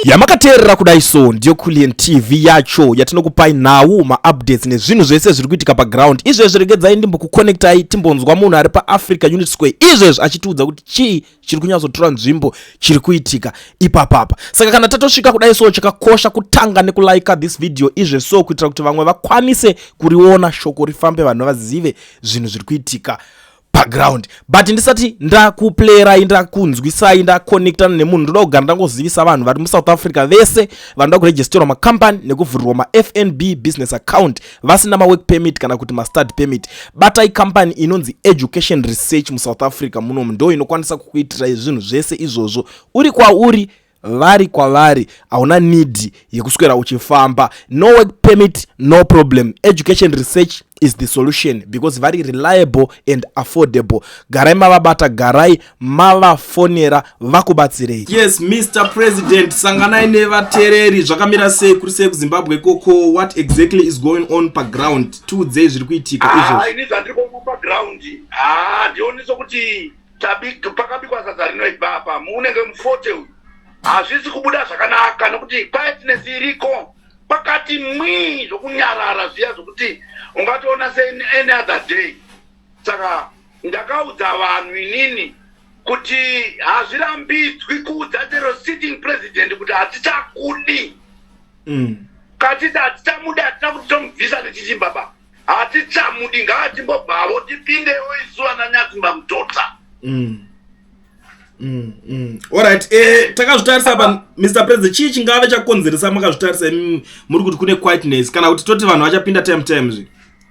yamakateerera kudai so ndiyo kulian tv yacho yatinokupai nhau maupdates nezvinhu zvese zviri kuitika paground izvezvi regedzai ndimbokuconnectai timbonzwa munhu ari paafrica unit square izvezvi achitiudza kuti chii chiri kunyatsotora nzvimbo chiri kuitika ipapapa saka kana tatosvika kudai so chakakosha kutanga nekulaika this video izve so kuitira kuti vamwe vakwanise kuriona shoko rifambe vanhu vazive zvinhu zviri kuitika paground but ndisati ndakuplayerai ndakunzwisai ndaconnectana nemunhu ndoda kugara ndangozivisa vanhu vari musouth africa vese vanoda kuregisterwa macompany nekuvhurirwa mafnb business account vasina mawork permit kana kuti mastad permit batai company inonzi education research musouth africa munomu ndo inokwanisa kukuitirai zvinhu zvese izvozvo uri kwauri vari kwavari hauna need yekuswera uchifamba no work permit no problem education research is the solution because vari reliable and affordable garai mavabata garai mavafonera vakubatsirei yes mr president sanganai nevatereri zvakamira sei kuri sei kuzimbabwe koko what exactly is going on paground tiudzei zviri kuitika izvo ah, ini zvandiri kuona paground ah, ndionisa kuti Tabik, pakabikwa sadza rinoibva apa muunenge mufote uyu hazvisi kubuda zvakanaka nokuti quietness iriko pakati mwii zvokunyarara zviya zvokuti ungatoona seany other day saka ndakaudza vanhu inini kuti hazvirambidzwi kuudza chero sitting president kuti hatichakudi mm. katiti hatichamuda hatina kuti tomubvisa nechichimba baba hatichamudi ngaatimbobvavo tipindewo isu vana nyatsimba mutota mm. Mm, mm. orit eh, takazvitarisa pa mr president chii chingave chakonzeresa makazvitarisa mm, muri kuti kune quietness kana kuti toti vanhu vachapinda time time zvi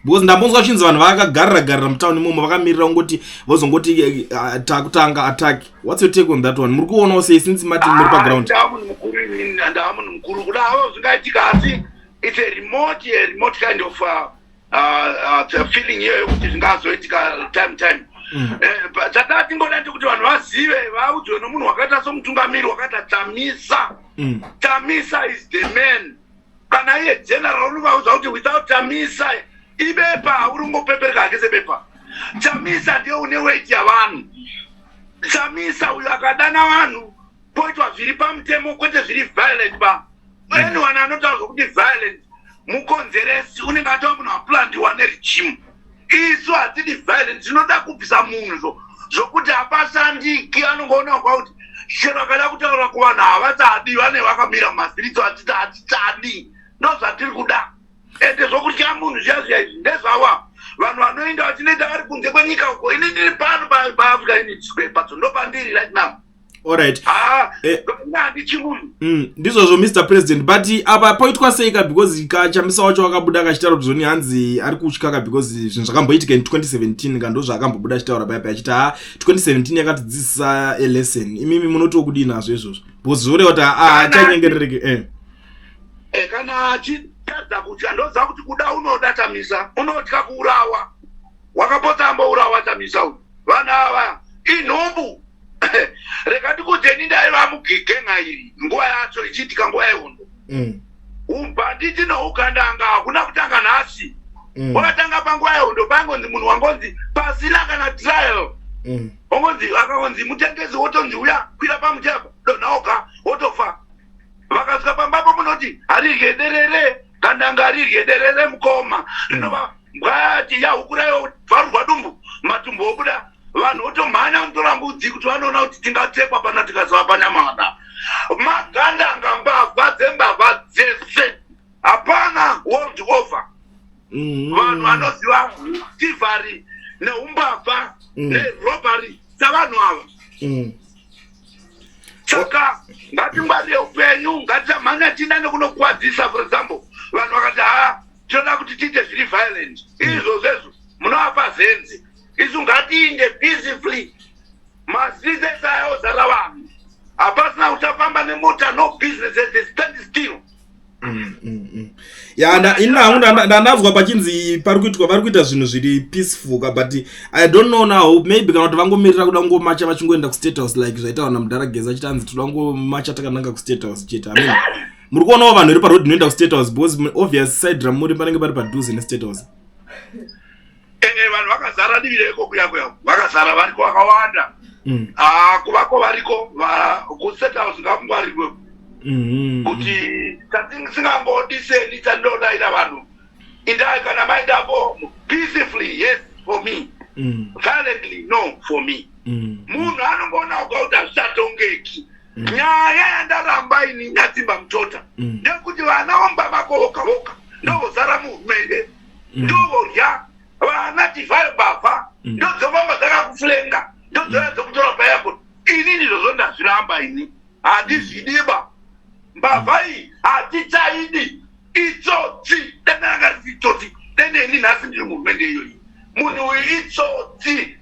because ndambonzwa chinzi vanhu vakagarira garira mutown imomo vakamirira kungoti vozongoti eh, eh, takutanga attack whats your take on that one muri kuonawo sei since mati muri paground ah, ndaamunhu mukuru kuda avo zvingaitika asi It's a remote, a remote kind of uh, uh, uh, feeling here yokuti zvingazoitika time time mm. eh, chataa tingoda ndekuti vanhu vazive vaudzwe nomunhu wakaita somutungamiri wakaita tamisa mm. tamisa is the man kana iye general unovaudza kuti without tamisa ibepa hauri ungopepereka hake sebepa chamisa ndiye une weti yavanhu chamisa uyo akadana vanhu poitwa zviri pamutemo kwete zviri violent ba mm. anyone anotaura zvokuti violent mukonzeresi unenge atova munhu aplandiwa neregimu isu hatidi violent tinoda kubvisa munhu zvo zvokuti hapashandiki anongoona kwa kuti chero akada kutaura kuvanhu havachadi vane vakamira mumasiriso atiti hatichadi ndo zvatiri kuda ende zvokutya munhu zviya zviya izvi ndezvava vanhu vanoenda vachinoita vari kunze kwenyika uko ini ndiri pano paafrica unit square patso ndo pandiri right now Alright. Ah, eh, mm, ndizvozvo Mr President but apa poitwa sei ka because ka chamisa wacho wakabuda akachitaura kuti zvoni hanzi ari kutya ka because zvinhu zvakamboitika in 2017 ka ndozvaakambobuda achitaura paipa achiti ha 2017 yakatidzidzisa a lesson imimi munotiwo kudii nazvo izvozvo because zvoreva kuti haachanyengerereke ah, eh. eh, kana achitadza kutya ndoziva kuti kuda unoda chamisa unotya kuurawa wakapota ambourawa chamisa uyu Vanhu ava inhumbu rega ndikudzeni ndaiva mugigenga iri nguva yacho ichiitika nguva yehondo mm. ubhanditi nougandanga hakuna kutanga nhasi mm. wakatanga mm. panguva yehondo paingonzi munhu wangonzi pasina kana trial mm. ongonzi akangonzi mutengezi wotonzi uya kwira pamuchapa donhaoka wotofa vakasvika pambapo munoti harirye derere Kana ngarirye derere mukoma rinova mbwati yahukurayo vharurwa dumbu matumbu okuda vanhu votomhanya kutora mbudzi kuti vanoona kuti tingatekwa pana tikazova panyamada maganda anga mbavha dzembavha dzese hapana world over mm-hmm. vanhu vanoziva tivari neumbavha mm. nerobary dzavanhu ava mm. saka ngatingwarire upenyu ngatisamhanya tiina nekunokuwadzisa for example vanhu vakati haa tinoda kuti tiite zviri violent izvo zvezvo munovapa zenzi isu ngatiinde peacefully mastreets ese ayozara vanhu hapasina uchafamba nemota no business as a standstill Mm, mm, mm. ya ini hangu ndandanzwa pachinzi pari kuitwa vari kuita zvinhu zviri peaceful ka but i don't know now maybe kana kuti vangomirira kuda kungomacha vachingoenda kustate house like zvaitawa namudhara geza achiti anzi tinoda kungomacha takananga kustate house chete amin muri kuonawo vanhu iri paroad inoenda kustate house because obvious side ramuri panenge pari padhuze nestate house ee vanhu vakazara divi reko kuya kuya vakazara variko vakawanda mm. ah, kuvako variko kustate house ngakungwarirwe mm-hmm. kuti tasingangodiseni tandodayira vanhu indai kana maindavo peacefully yes for me mm. violently no for me mm. munhu anongoona kuga kuti hazvichatongeki mm. nyaya yandaramba ini nyatsimba mutota ndekuti vana vomba vako voka voka ndovozara muhurumende mm. ndovodya vana divai bavha mm. ndodzovamba dzakakuflenga ndodzora dzokutora payako ini ndizvo zvondazviramba ini handizvidiba mbavha iyi hatichaidi itsotsi dananga risi itsotsi deneni nhasi ndiri muhurumende iyoyi munhu uyu itsotsi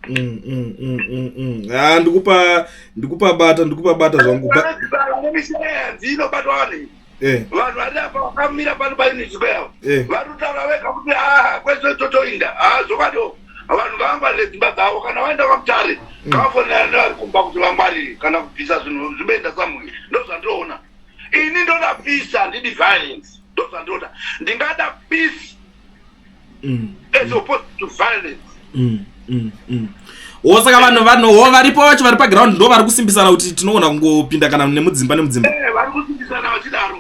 Mm, mm, mm, mm, mm. Ah, ndikupa ndikupa bata ndikupa bata zvangu ba- Vanogara nemishonga yanzi inobatwa vanhu iyi. eh, vanhu vari apa vakamira pano painiziko yavo eh. vari kutaura vega kuti aa kwese totoinda haa zvokadiwo vanhu ngavangwarire dzimba dzavo kana vaenda kwamutare ngavafonera nevari kumba kuti vangwarire kana kubvisa zvinhu zvimeenda samuyi ndozvandinoona ini ndoda peace handidi violence ndozvandinoda ndingada peace mm. as opposed to violence mm. Mm. Mm. osaka vanhu vanhuwo varipo vacho vari paground ndo vari kusimbisana kuti tinogona kungopinda kana nemudzimba nemudzimba eh, vari kusimbisana vachidaro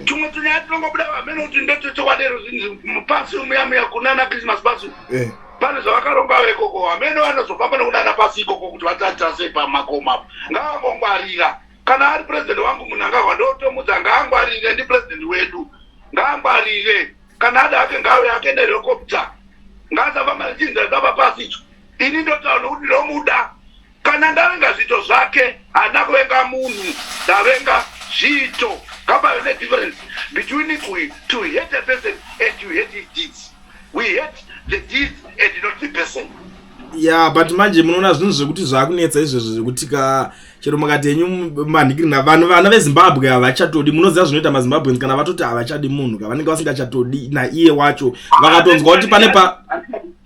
tumwe tunyaya tinongobuda vamene kuti ndotochokwadero pasi umuyamuya kunana christmas pasi eh. pane zvavakaronga vekoko vamene vanozofamba nekunana pasi ikoko kuti vatatasei pamakomo apo ngavangongwarira kana ari president wangu munangagwa ndotomudza ngaangwarire ndi president wedu ngaangwarire kana ada ake ngawe ake nerekopta ngaasava malichinza zava pasi icho ini ndotaura nokuti ndomuda kana ndavenga zviito zvake haana kuvenga munhu ndavenga zviito ngapave nedifference between to hate a person and to hate his deeds we hate the deeds and not the person ya yeah, but manje munoona zvinhu zvekuti zvaakunetsa izvezvo zvekuti ka chero mukati yenyu manhikirina vanhu vana vezimbabwe havachatodi munoziva zvinoita mazimbabweans kana vatoti havachadi munhu ka vanenge vasingachatodi naiye wacho vakatonzwa kuti pane pa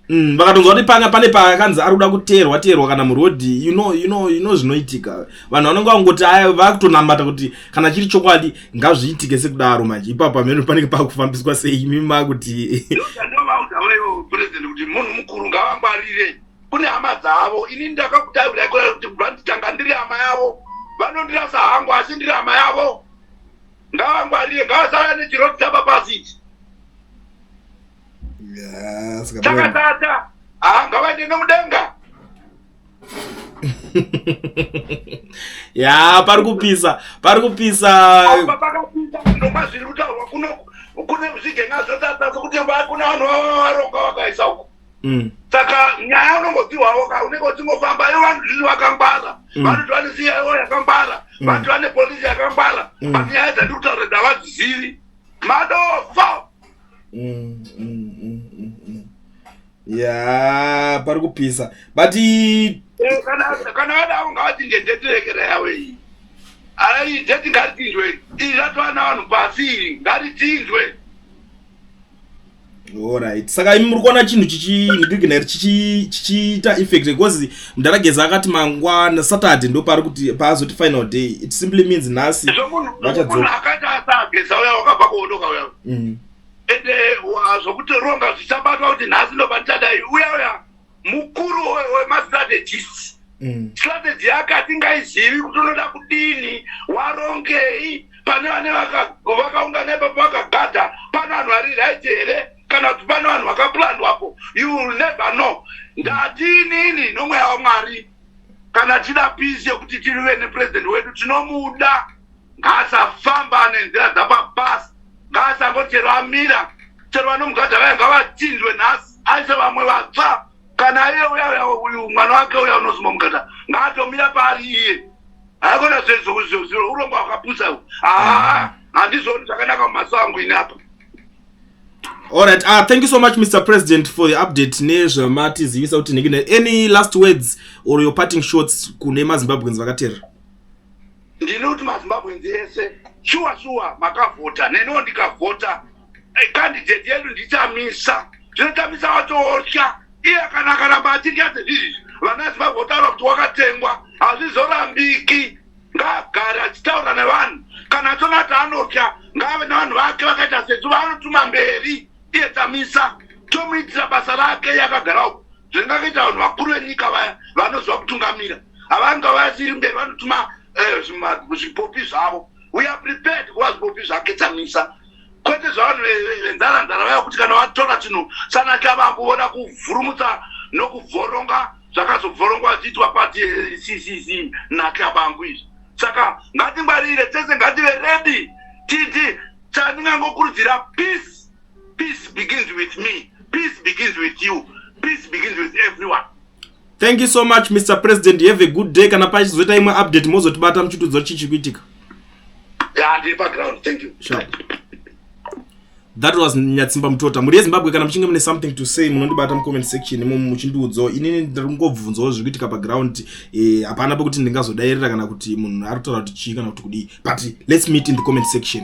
mm, vakatonzwa kuti panga pane paakanzi ari kuda kuteerwa teerwa kana murodhi you know, you know, you know zvinoitika vanhu vanenge vangoti aya vakutonambata kuti kana chiri chokwadi ngazviitike sekudaro manje ipapo pamene panenge pakufambiswa sei imi makuti president kuti munhu mukuru ngavangwarire kune hama dzavo ini ndakakutaura kudai kuti vanzi tanga ndiri hama yavo vanondirasa hangu asi ndiri hama yavo ngavangwarire ngavasara nechiroti tapa pasi ichi chakatata haa ngavaende nomudenga ya pari kupisa pari kupisa pakapindaoma zviri kutaurwa kuno kune zvigenga zvotata sokuti kune vanhu vava varonga vakaisa uko mm. saka nyaya unongodziwawo ka unenge uchingofamba ivo vanhu zvizvi vakangwara mm. vanoti vane cia ivo yakangwara mm. vanoti vane polisi yakangwara but nyaya dzandi kutaura ndavadzizivi madofo ya pari kupisa but eh, kana vadavo ngavati ndendeterekera yavo iyi aideti ngatichinjwe izvatwana vanhu pasi iri ngatichinjwe Alright. Saka imi muri kuona chinhu chichi ndigina chichi chichiita effect because mdara geza akati mangwana Saturday ndo pari kuti paazoti final day. It simply means nhasi vachadzoka. Akati asageza uya wakabva kuondoka uya. Mm. Ende zvokuti ronga zvichabatwa kuti nhasi ndo pachadai uya uya mukuru wemastrategists mm. strategy yake hatingaizivi kuti unoda kudini warongei pane vane vakaungana ipapo vakagada pane vanhu vari right here kana kuti pane vanhu vakaplandwapo you will never know ndatiinini nomweya wamwari kana tida pisi yekuti tirive nepurezidendi wedu tinomuda ngaasafamba nenzira dzapabasi ngaasangochero amira chero vanomugadha vaya ngavatsinzwe nhasi aise vamwe vatsva kana iye uya uya uyu mwana wake uya unozuma mukata ngaatomira paari iye haikona zvezozoziro urombo hwakapusa u haa handizvoni zvakanaka mumaso angu ini apa Alright, uh, ah, thank you so much Mr. President for the update nezvamati zivisa kuti nekine any last words or your parting shots kune maZimbabweans vakateerera. Ndinoti maZimbabweans ese shuwa shuwa makavhota neniwo ndikavhota candidate yedu ndichamisa zvinotamisa watotya iye kana akaramba atinyaze izvi vana zimbabwe votaura kuti wakatengwa hazvizorambiki ngaagare achitaura nevanhu kana atona ati anotya ngaave nevanhu vake vakaita sesu vaanotuma mberi iye tamisa tomuitira basa rake yakagara uku zvingakaita vanhu vakuru venyika vaya vanoziva kutungamira havanga vasiri mberi vanotuma eh, zvipopi zvavo we are prepared kuva zvipopi zvake tamisa kwete zvavanhu venharanhara vaya kuti kana vatora chinhu sanaka vakuona kuvhurumutsa nokuvhoronga zvakazobvorongwa zviitwa pati ccc nakabangu izvi saka ngatingwarire tese ngative redi titi chandingangokurudzira peace peace begins with me peace begins with you peace begins with everyone thank you so much mr president have a good day kana pachizoita imwe update mozotibata muchitudzo chichi kuitika that was nyatsimba mutota mhuri yezimbabwe kana muchinge mune something to say munondibata mucomment section imo muchindiudzawo inini ndiri kungobvunzawo zviri kuitika paground eh, hapana e, pekuti ndingazodairira kana kuti munhu ari kutaura kuti chii kana kuti kudii but let's meet in the comment section